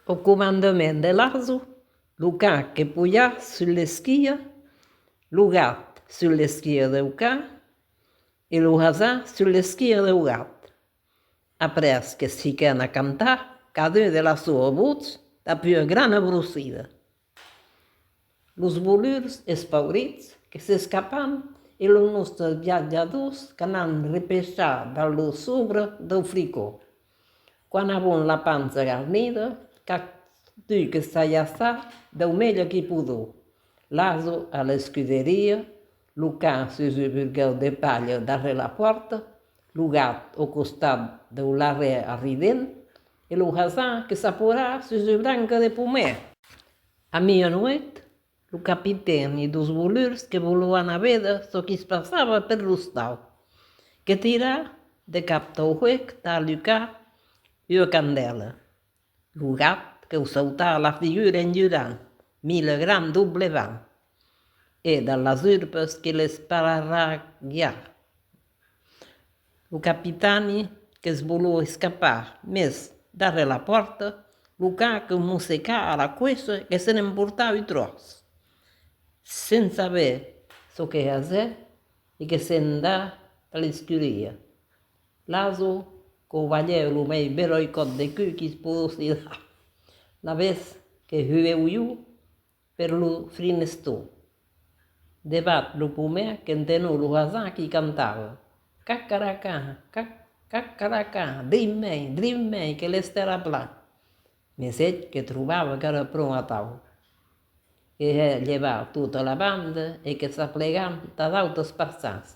Au comandement de l'arzo, lo can que puja sus l'esquia, lo gat sus l'esquia deu can e lo hasan sus l'esquia deu gat. Après que se fiquèn a cantar, cadun de la soa votz dà pua grana brosida. Los bolurs espaurits que s'escapan e los nòstres viatjadors qu'anan repechar dins lo sobre dau fricó. Quand avon la pança garnida, qu'a dut que s'ajaçar dau melhor que podó. L'aso a l'escuderia, Lo can se jebulguèu de balha darrèr la pòrta, lo gat au costat deu larrèr arrident, e lo hasan que s'apora sus de branca de pomèr. A mia nuèit, lo capitèn e dos volurs que volovan a véder çò qui's passava per l'ostau, que tirà de cap tau huec tà alucar ua candèla, Lo gat que'u sauta a la figura en jurant mile gran doble vent e dans las urbes que l'esparraguiá. Lo capitani que's voló escapar, mes, darrèr la pòrta, lo can que'u mossecá a la coixa e se n'emportá ui tròç, sens saber çò que haser e que se'n dá a l'escuria. L'Azo, qu'o balhèu lo mei belòi còp de cul qui's possi la la vez que hueu jo per lo frinestó. Debat lo pomèr qu'entenó lo hasard qui cantava, Cacaracà, cac, cacaracà, drin mei, drin mei que l'estèla pla. Mes eth que trobava qu'èra pron atau, que hè llevar tota la banda e que s'aplegam tà d'autas parças.